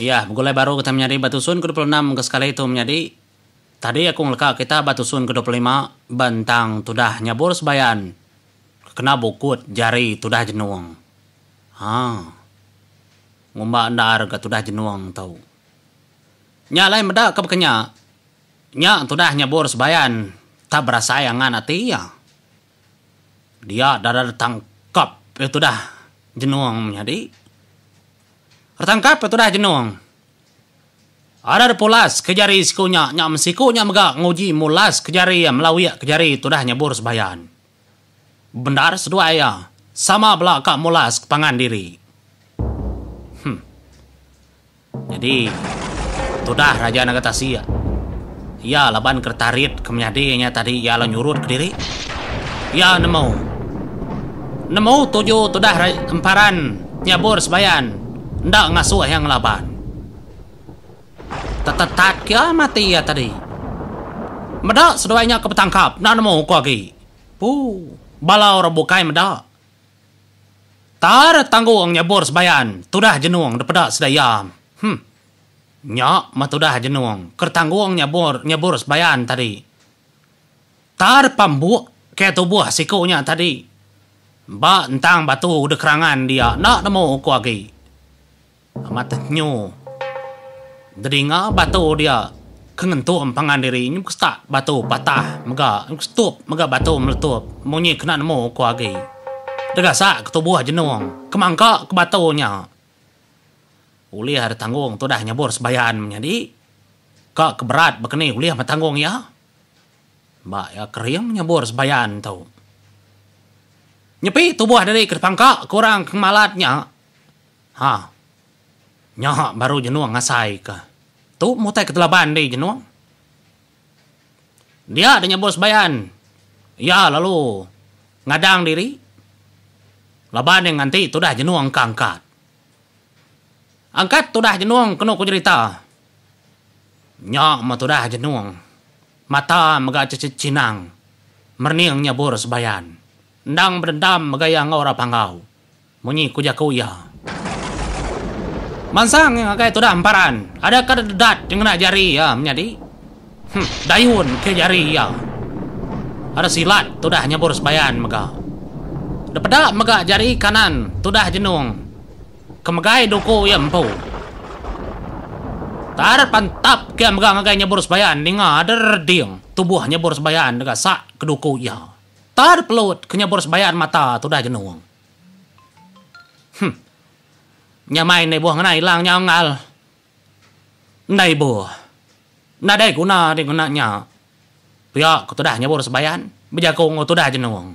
Iya, begulai baru kitai menyadi ba tusun kedua puluh enam ke sekali tu menyadi. Tadi aku ngeleka kita ba tusun kedua puluh lima ba entang tudah nyabur sebayan ke kena bukut jari tudah jenung. Ha. Ngumba endar ga tudah jenung tu. Nya alai meda ke baka nya. Nya tudah nyabur sebayan tak berasai angan ati iya. Dia dada tangkap tudah jenung menyadi. Retangkap ke tudah jenung. Order pulas ke jari siku nya nya mesiku nya mega nguji mulas ke jari iya melawik ke jari tudah nyebur sembayan. Bendar seduai iya, sama bela ka mulas ke pangan diri. Huh. Nyadi tudah Raja Naga Tasik. Iya laban keretarit ke menyadi nya tadi iya lalu nyurut kediri. Iya nemu. Nemu tuju tudah emparan nyabur sebayan enda ngasuh iya ngelaban. Tetetat ke iya mati iya tadi. Meda seduai nya ke betangkap enda nemu ko agi. Pu, bala orang bukai meda. Tar tanggung nyabur sebayan tudah jenung dipeda sida iya. Huh. Nya meh tudah jenung kertanggung nyabur nyabur sebayan tadi. Tar pambuk ke tubuh siku nya tadi. Ba entang batu de kerangan dia enda nemu uku agi. Amat tenyu. Dedinga batu dia ke ngentung pangan diri nyu ke setak batu patah mega nyu ke setup mega batu meletup munyi kena nemu uku agi. Degasa ke tubuh jenung kemangka ke batu nya. Ulih ada tanggung tu dah nyabur sebayan menyadi ka ke berat baka ni ulih meh tanggung iya. Ba iya kering nyabur sebayan tu. Nyepi tubuh diri ke dipangka ke orang ke ngemalat nya. Ha. Nya baru jenung ngasaika. Tu mutai ketelaban diri jenung. Dia deh nyebus Bayan. Iya lalu ngadang diri laban iya nganti tudah jenung ka angkat. Angkat tudah jenung kenu ku jerita. Nya meh tudah jenung. Mata mega cechinang merning nyebus Bayan. Endang bedendam mega iya enggau orang Panggau. Munyi ku jaku iya. Mansang iya ngagai tudah emparan. Ada ke dedat ti ngena jari iya menyadi. Huh, dayun ke jari iya. Ada silat tudah nyebur sebayan mega. Depeda mega jari kanan tudah jenung ke megai duku iya empu. Tar pantap ke iya mega ngagai nyebur sebayan ninga ada reding tubuh nyebur sebayan dega sak ke duku iya. Tar pelut ke nyebur sebayan mata tudah jenung. Huh. Nya mai ndai boh ngena ilang nya unggal. Ndai boh. Nadai guna deh ngena nya. Pia ku tudah nyebur sebayan bejaku enggau tudah jenung.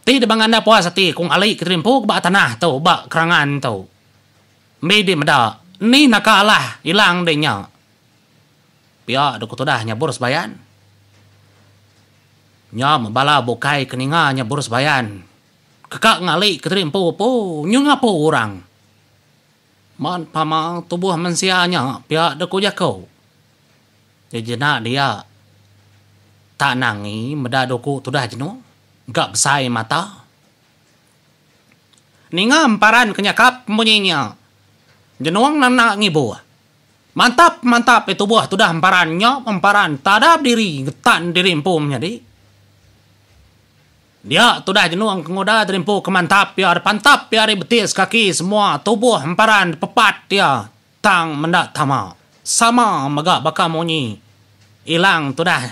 Ti deba ngandap puas ati kong ali ke terimpu ke ba tanah tu ba kerangan tu. Mbi deh meda. Ni naka alah ilang deh nya. Pia dua ku tudah nyabur sebayan. Nyam bala bukai ke ninga nyabur sebayan. Keka ngali ke teri empu pu nyu ngapu urang. Man pama tubuh mensia nya pia dua ku jaku. Ti jena dia tak nangi meda dua ku tudah jenu engka besai mata. Ninga emparan ke nyakap munyi nya jenung nanda ngibu. Mantap mantap deh tubuh tudah emparan nyok emparan tada bediri getan diri empu menyadi. Dia tudah jenung ke nguda diri empu ke mantap ia deh pantap ia ari betis kaki semua tubuh emparan deh pepat ia tang menda tama sama mega baka munyi ilang tudah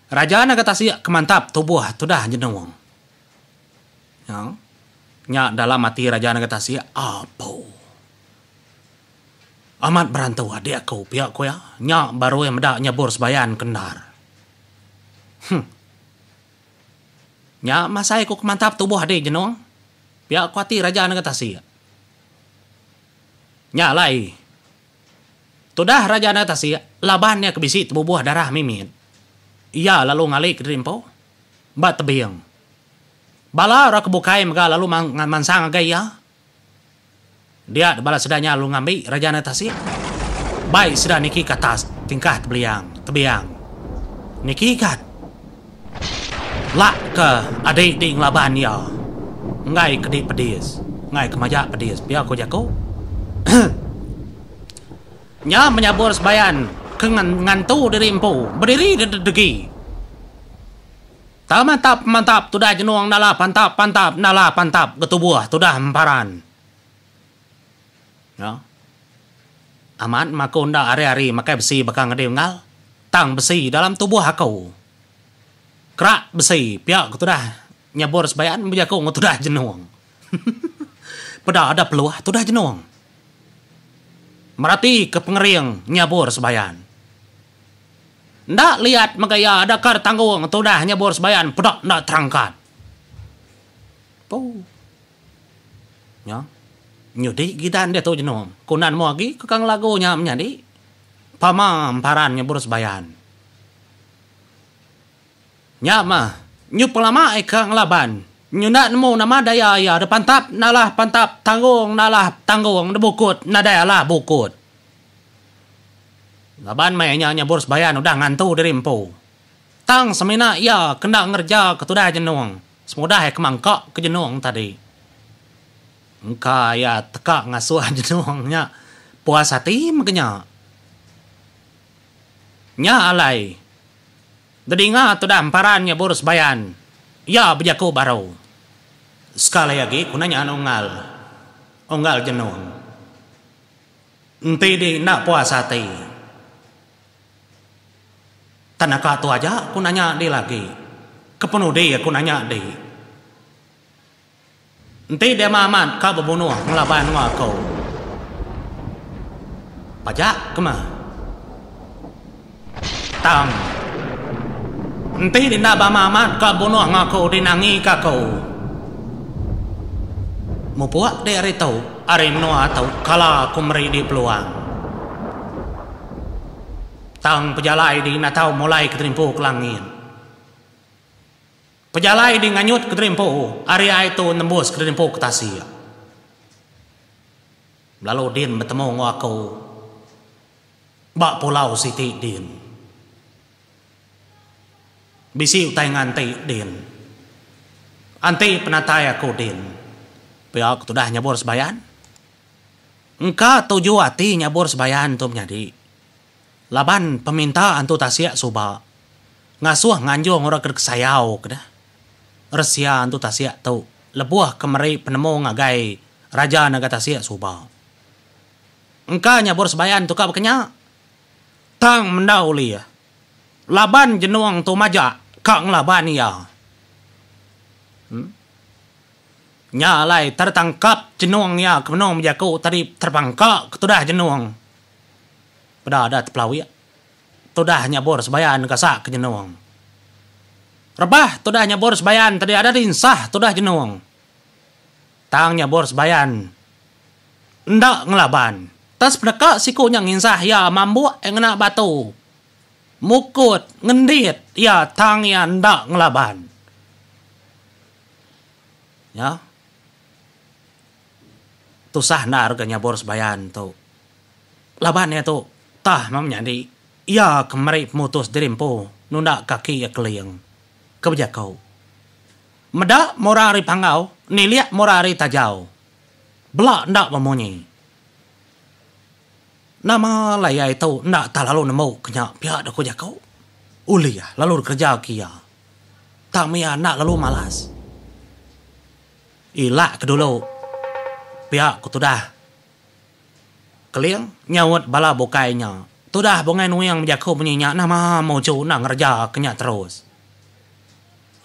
raja naga tasik ke mantap tubuh tudah jenung nyau nya dalam ati raja naga tasik apu. Amat berantu adik aku pia ku iya. Nya barui meda nyebur sebayan ke endar. Huh. Nya masai ku ke mantap tubuh adi jenung. Pia ku ati raja nega tasik. Nya alai. Tudah raja nega tasik laban iya ke bisi tebubuh darah mimit. Iya lalu ngali ke diri empu ba tebing. Bala orang ke bukai mega lalu mansang ngagai iya Dia da bala sida nya lu ngambi raja nda tasik. Bai sida niki ke atas tingkah tebeliang, tebiang. Niki kat. Lak ke adi di ngelaban iya. Enggai ke di pedis. Enggai ke majak pedis pia ko jako. nya menyabur sebayan ke ngantu diri empu. Bediri degi. Tau mantap pemantap tudah jenung nala pantap pantap nala pantap getubuh tudah emparan. Nya. Amat ma aku enda ari-ari makai besi baka ngedi unggal, tang besi dalam tubuh aku. Kerak besi pia ke tudah nyabur sebayan bejaku enggau tudah jenung. Peda ada peluh tudah jenung. Meratika pengering nyabur sebayan. Enda liat mega iya adaka tanggung tudah nyebur sebayan peda enda terangkat. Puu. Nya. Nyudi gidan diatu jenung. Ku nan mua agi ke kang lagu nya menyadi. Pama emparan nyebur sebayan. Nya mah. Nyu pelama ika ngelaban. Nyu enda nemu nama daya iya depantap nalah pantap tanggung nalah tanggung debukut nadai alah bukut. Laban meh inya nyebur Sebayan udah ngantu diri empu. Tang semina iya ke enda ngereja ke tudai jenung semudah iya ke mangka ke jenung tadi. Engka iya teka ngasuh jenung nya puas ati mega nya. Nya alai Dedinga tudah emparan nyebur Sebayan, iya bejaku baru. Sekali agi ku nanya Unggal, Unggal jenung. Enti di enda puas ati. Tan aka tu aja aku nanya di lagi. Kepenudi aku nanya di. Enti dema amat ka bebunuh ngelaban enggau aku. Pajak kemah. Tang. Enti enda bama amat ka bunuh ngaku di nangi ka aku. Mupuk di ari tu, ari menua tu kala aku meri di peluang. Tang pejalai di enda tau mulai ke terimpu ke langit. Pejalai di nganyut ke terimpu ari ai tu nembus ke terimpu ke tasik. Lalu din betemu enggau aku. Ba pulau siti din. Bisi utai nganti din. Anti penatai aku din. Pia ke tudah nyabur sebayan. Engka tuju ati nyabur sebayan tu menyadi. Laban peminta antu tasik suba. Ngasuh nganjung orang ke dikesayau ke deh. Resia antu tasik tu lebuh ke meri penemu ngagai Raja Naga Tasik suba. engka nyabur sebayan tu ka bekenya. Tang mendau ulih laban jenung tu majak ka ngelaban iya. Nya alai tertangkap jenung iya ke benung bejaku tadi terpangka ke tudah jenung peda da tepelawik tudah nyabur sebayan ka sak ke jenung. Rebah tudah nyabur sebayan tadi ada dinsah tudah jenung. Tang nya bor sebayan enda ngelaban. Tang sepeneka siku nya nginsah iya mambuk ngena batu mukut ngendit iya tang iya enda ngelaban. Nya tusah endar ga nya bor sebayan tu. Laban iya tu tah meh menyadi iya ke meri pemutus diri empu nunda kaki iya keling. Ke bejaku. Meda mura ari panggau, nilik mura ari tajau. Bela enda bemunyi. Nama alai ai tu enda tah lalu nemu ke nya pia da ku jaku. Ulih lalu dikereja ke iya. Tang iya enda lalu malas. Ila ke dulu pia ku tudah Keling nyaut bala bukai nya. Tudah Bungai Nuing bejaku munyi nya nama Mojo enda ngereja ke nya terus.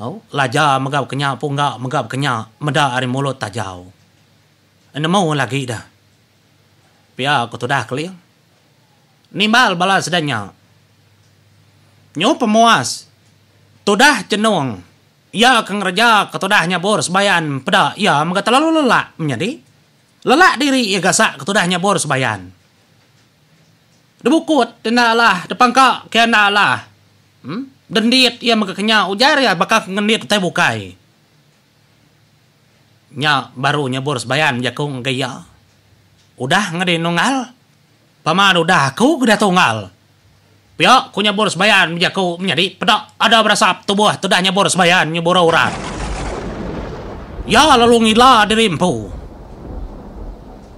Au, laja mega bekenya pun ga mega bekenya meda ari mulut tajau. Enemu lagi da. Pia ku tudah Keling. Nimbal bala sida nya. Nyu pemuas tudah Chenung iya ke ngereja ke tudah nyabur sebayan peda iya mega telalu lelak menyadi. Lelak diri iya gasak ke tudah nyabur sebayan. Debukut enda alah depangka ke enda alah. Dendit iya mega kenya ujar iya baka ke ngendit utai bukai. Nya baru nyebur sebayan jaku ngagai iya. Udah ngeri nunggal? Pama da udah aku ke diatu unggal. Pia ku nyebur sebayan bejaku menyadi peda ada berasap tubuh tu dah nyebur sebayan nyebura urat. Iya lalu ngila diri empu.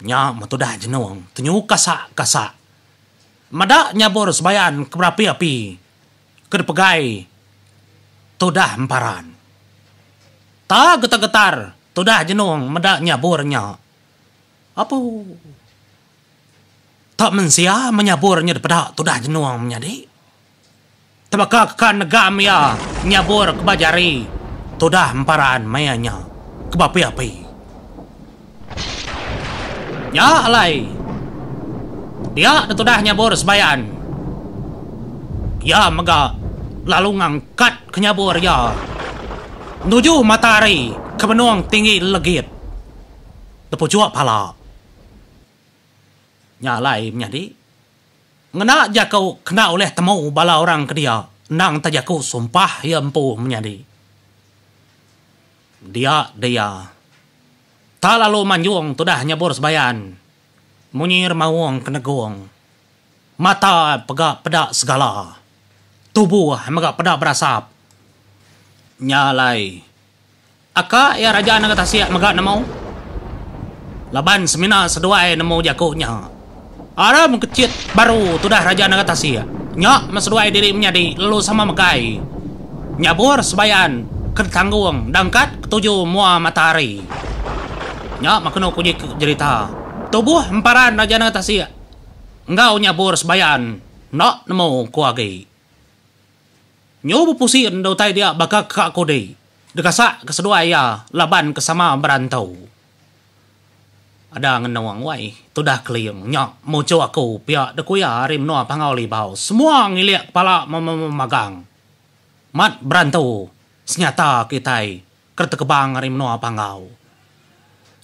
Nya metudah jenung tenyu kasak-kasak meda nyabur sebayan ke berapi-api ke dipegai tudah emparan. Ta getar-getar tudah jenung meda nyabur nya. Apu. Ta mensia menyabur nya dipeda tudah jenung menyadi. Tebaka ka negam iya nyabur ke ba jari tudah emparan maya nya ke ba api-api. Nya alai dia da tudah nyabur sebayan iya mega lalu ngangkat ke nyabur iya nuju matahari ke benung tinggi legit da puchuk pala. Nya alai menyadi. Ngena jaku kena ulih temu bala orang ke dia endang te jaku sumpah iya empu menyadi. Dia dia. Ta lalu manjung tudah nyabur sebayan. Munyi remaung ke negung. Mata pega peda segala. Tubuh mega peda berasap. Nya alai. Aka iya raja nengah tasik mega nemu laban semina seduai nemu jaku nya. Ara mengkechit baru tudah raja nengah tasik nya meh seduai diri menyadi lalu sama megai nyabur sebayan ke ditanggung dangkat ketuju mua matahari. Nya meh kenu kunyi jerita tubuh emparan raja nengah tasik enggau nyabur sebayan enda nemu ku agi. Nyu bepusi enda utai dia baka ka kudi. Degasak ke seduai iya laban ke sama berantau. Ada ngenung wai tudah keling nya muchu aku pia dekuya ari menua Pangau Libau semua ngilik kepala memagang. Mat berantau senyata kitai. Ke tekebang ari menua Panggau.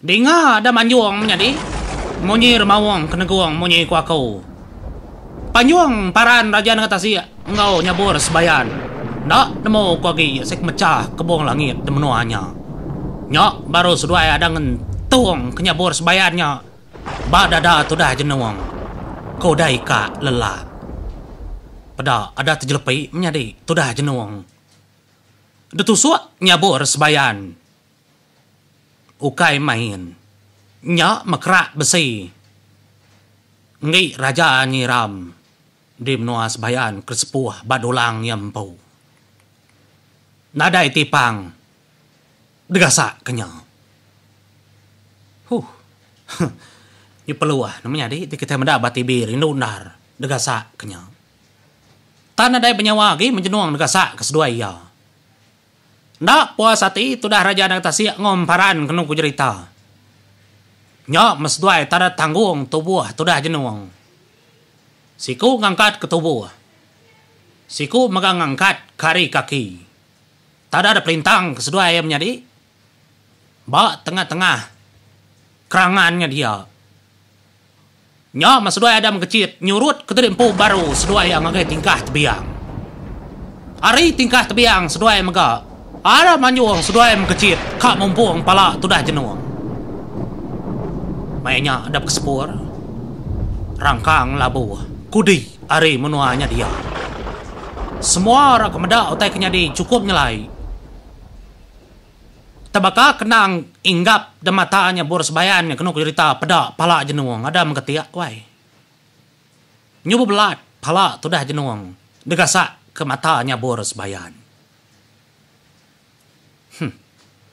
Dinga ada manjung menyadi, munyi remaung kenegung munyi ku aku. Panjung paran raja nengah tasik enggau nyabur sebayan. Enda nemu ku agi sik ke mechah kebung langit di menua nya. Nya baru seduai ada ngentung ke nyabur sebayan nya ba dada tudah jenung, ku udah ika lelak. Peda ada tejelepi menyadi tudah jenung. Detusok nyabur sebayan ukai main. Nya mekerak besi enggi Raja Nyiram di menua Sebayan ke sepuh ba dulang iya empu. Nadai ti pang degasak ke nya. Huh. Huh. Nya perlu ah. Nama nyadi ti kitai meda ba TV rindu endar degasak ke nya. Tan nadai benyawa agi menjenung deka sa ke seduai iya. Enda puas ati tudah Raja Anak Tasik enggau emparan kenu ku jerita. Nya meh seduai tanda tanggung tubuh tudah jenung. Siku ngangkat ke tubuh. Siku mega ngangkat ke ari kaki. Tanda dipelintang ke seduai iya menyadi Ba tengah-tengah kerangan nya dia, nya meh seduai Adam Kechit nyurut ke diri empu baru seduai iya ngagai tingkah tebiang. Ari tingkah tebiang seduai mega, Adam anjung seduai mekechit ka mumpung pala tudah jenung. Maya nya Adam kesepur rangkang labu kudi ari menua nya dia. Semua orang ke meda utai ke nyadi chukup nyelai. Tebaka kenang inggap da mata nya bur sebayan nya kenu kerita peda pala jenung ada meketik wai. Nyu bebelat pala tudah jenung degasak ke mata nya bur sebayan. Huh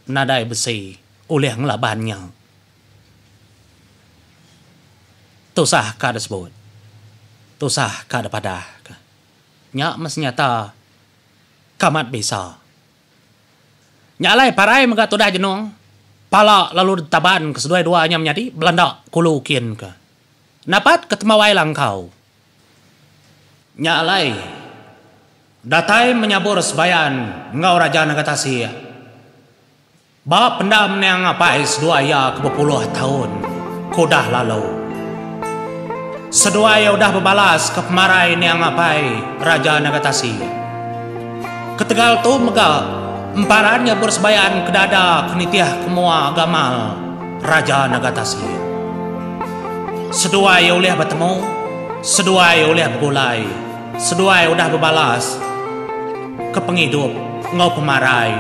nadai besi ulih ngelaban nya. Tusah ka da sebut. Tusah ka da padah ka. Nya meh senyata kamat bisa. Nya alai parai mega tudah jenung pala lalu ditaban ke seduai dua nya menyadi belanda kulu kin ke. Napat ke temawai langkau. Nya alai datai menyabur sebayan enggau Raja Naga Tasik. Ba pendam ni Anang Apai seduai iya ke bepuluh taun ke udah lalu. Seduai iya udah bebalaska pemarai ni Anang Apai Raja Nagatasi. Ketegal tu mega emparan iya beresebayan ke dada ke nitihka mua gamal Raja Nagatasi. Seduai iya ulih betemu, seduai iya ulih begulai. Seduai udah bebalas ke pengidup enggau pemarai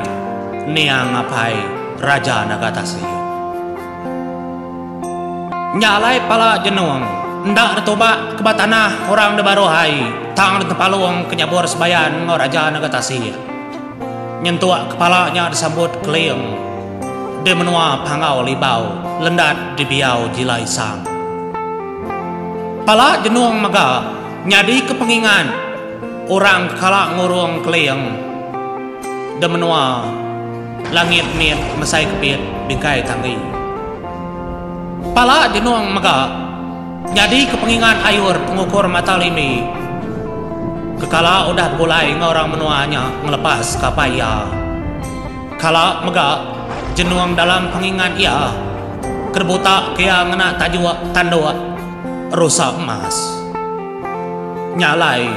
niang apai Raja Naga Tasik. Nya alai pala Jenong enda ditubak ke ba tanah orang da baruh ai tang ditempalung ke nyabur sebayan enggau Raja Naga Tasik. Nyentuk kepala nya disambut Keling di menua Panggau Libau Lendat Dibiau Jila Isang. Pala Jenong mega. Nyadika pengingat orang ke kala ngurung Keling da menua langit mit mesai kepit bingkai tanggi. Pala Jenong mega nyadika pengingat ayur pengukur mata limi ke kala udah begulai enggau orang menua nya ngelepas ke apai iya. Kala mega Jenong dalam pengingat iya ke dibutaka iya ngena tajuk tanduk. rusa emas. Nya alai,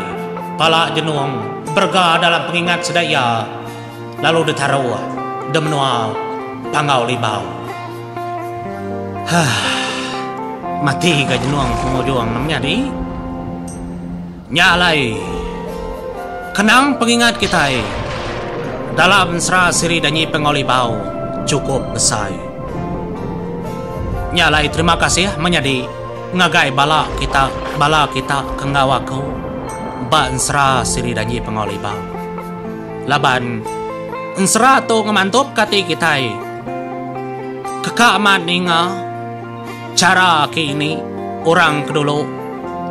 pala Jenong berega dalam pengingat sida iya lalu ditaruh di menua Panggau Libau. Hah. Mati ga Jenong pengujung ne menyadi. Nya alai, kenang pengingat kitai dalam Sra Siri Danyi Pengoli Bau chukup besai. Nya alai terima kasih menyadi ngagai bala kita bala kita ke enggau aku ba ensera Siri Danyi Pengoli Bau. Laban ensera tu ngemantupka ati kitai ke ka amat ninga. Chara ake ini orang ke dulu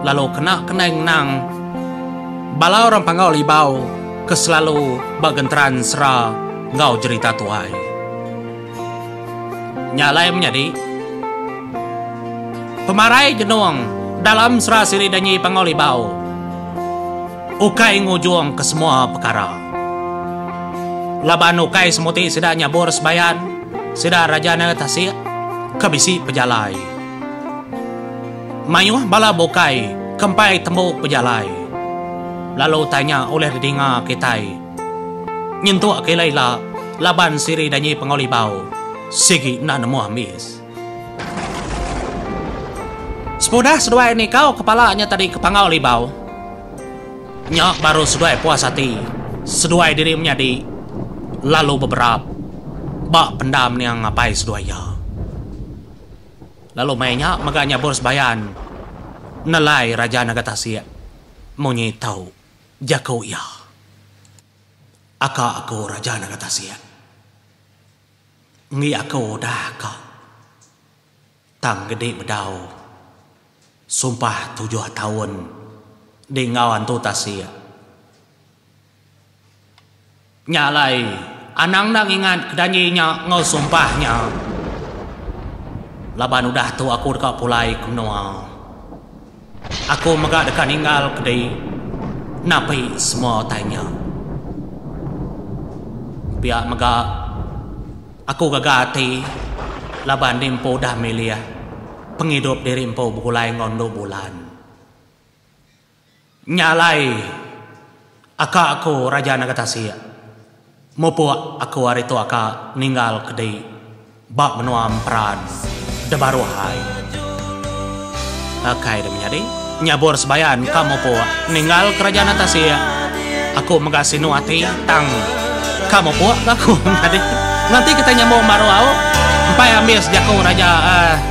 lalu kena kendai ngenang bala orang panggau libau ke selalu ba genteran sera enggau jerita tuai. Nya alai menyadi pemarai jenung dalam sera siri danyi panggau libau ukai ngujungka semua pekara laban ukai semuti sida nyabur sebayan. Sida raja nanga tasik ke bisi pejalai. Mayuh bala bukai ke empai tembu pejalai lalu tanya ulih didinga kitai nyentuk kila ila laban siri danyi Pengawa Libau sigi enda nemu ambis. Sepudah seduai nikau kepala nya tadi ke Pengawa Libau. Nya baru seduai puas ati, seduai diri menyadi lalu beberap ba pendam niang apai seduai iya. Lalu meh nya mega nyabur sebayan nelai Raja Naga Tasik munyi tau jaku iya. Aka aku Raja Naga Tasik. Enggi aku udah ka. Tang gedi bedau. Sumpah tujuh taun di enggau antu tasik. Nya alai anang enda ngingat ke janji nya enggau sumpah nya. Laban udah tu aku deka pulai ke menua. Aku mega deka ninggal kedi napi semua utai nya. Pia mega, aku gaga ati laban enti empu udah milih pengidup diri empu begulai enggau endu bulan. Nya alai aka aku Raja Naga Tasik. Mupuk aku ari tua ka ninggal ke di ba menua emperan debaruh ai. Akai dia menyadi nyabur sebayan ka mupuk ninggal kerajaan tasik aku mega sinu ati tang ka mupuk ga aku menyadi nganti kitai nyambung baruh au empai ambis jaku raja ai.